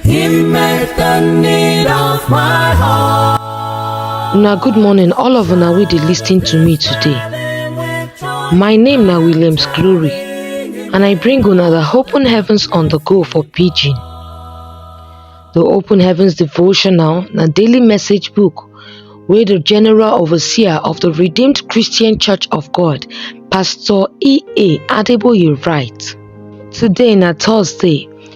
Him make the need of my heart. Una good morning, all of una wey dey lis ten to me today. My name na Williams Glory, and I bring una the Open Heavens on the Go for Pidgin. The Open Heavens Devotional na daily message book wey the General Overseer of the Redeemed Christian Church of God, Pastor E.A. Adeboye write. Today na Thursday,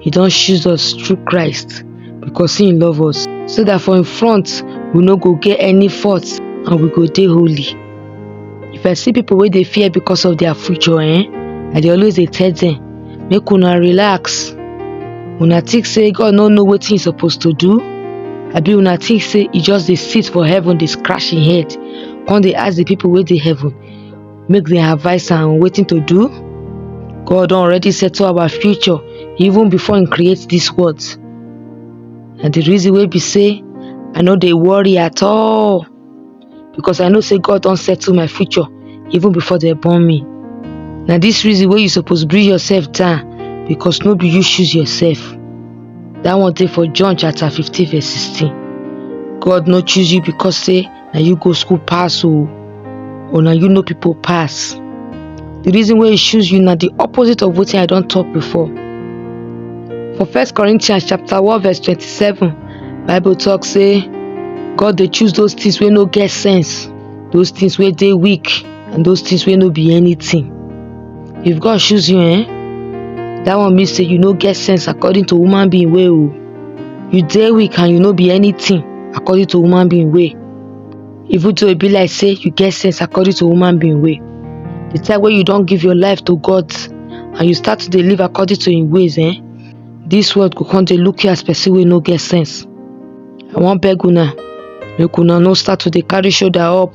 He don choose us through Christ because he love us so that for in front we no go get any fault and we go dey holy. If I see people wey dey fear because of their future eh, I dey always dey tell them make una relax. Una think say God no know wetin he suppose to do? Abi una think say he just dey sit for heaven dey scratch him head come dey ask the people wey dey heaven make dem advise am wetin to do god don already settle our future even before im create dis world na the reason wey be say i no dey worry at all because i know say god don settle my future even before dem born me na dis reason wey you suppose bring yourself down because no be you choose yourself that one dey for john chapter 15 verse 16 god no choose you because say na you go school pass o or na you know people pass the reason why he choose you na the opposite of wetin i don't talk before for first corinthians chapter one verse twenty-seven bible talk say god they choose those things where no get sense those things where they weak and those things where no be anything if god choose you eh that one means say you no get sense according to woman being way you dey weak and you no be anything according to human being way even though e be like say you get sense according to human being way the time wey you don give your life to god and you start to dey live according to him ways eh this world go come dey look you as person wey no get sense i wan beg una make una no start to dey carry shoulder up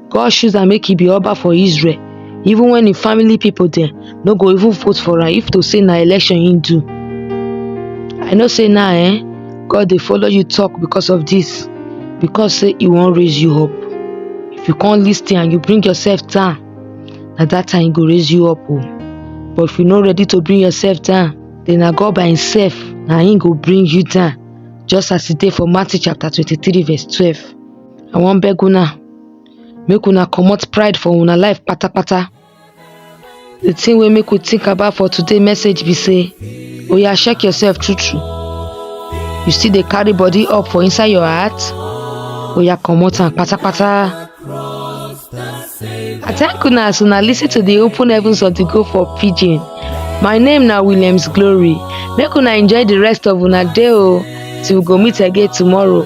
God choose am make he be Oba for Israel even when him family people dem no go even vote for am if to say na election he do. I know say now eh, God dey follow you talk because of this because say he wan raise you up. If you come lis ten and you bring yourself down na that time he go raise you up o. But if you no ready to bring yourself down then na God by himself na him go bring you down just as e dey for Matthew chapter twenty-three verse twelve. i wan beg una make una comot pride for una life patapata the thing wey make we think about for today message be say oya check yourself true true you still dey carry body up for inside your heart oya comot am patapata i thank una as una lis ten to the open heavens of the go for pidgin my name na williams glory make una enjoy the rest of una day o till we go meet again tomorrow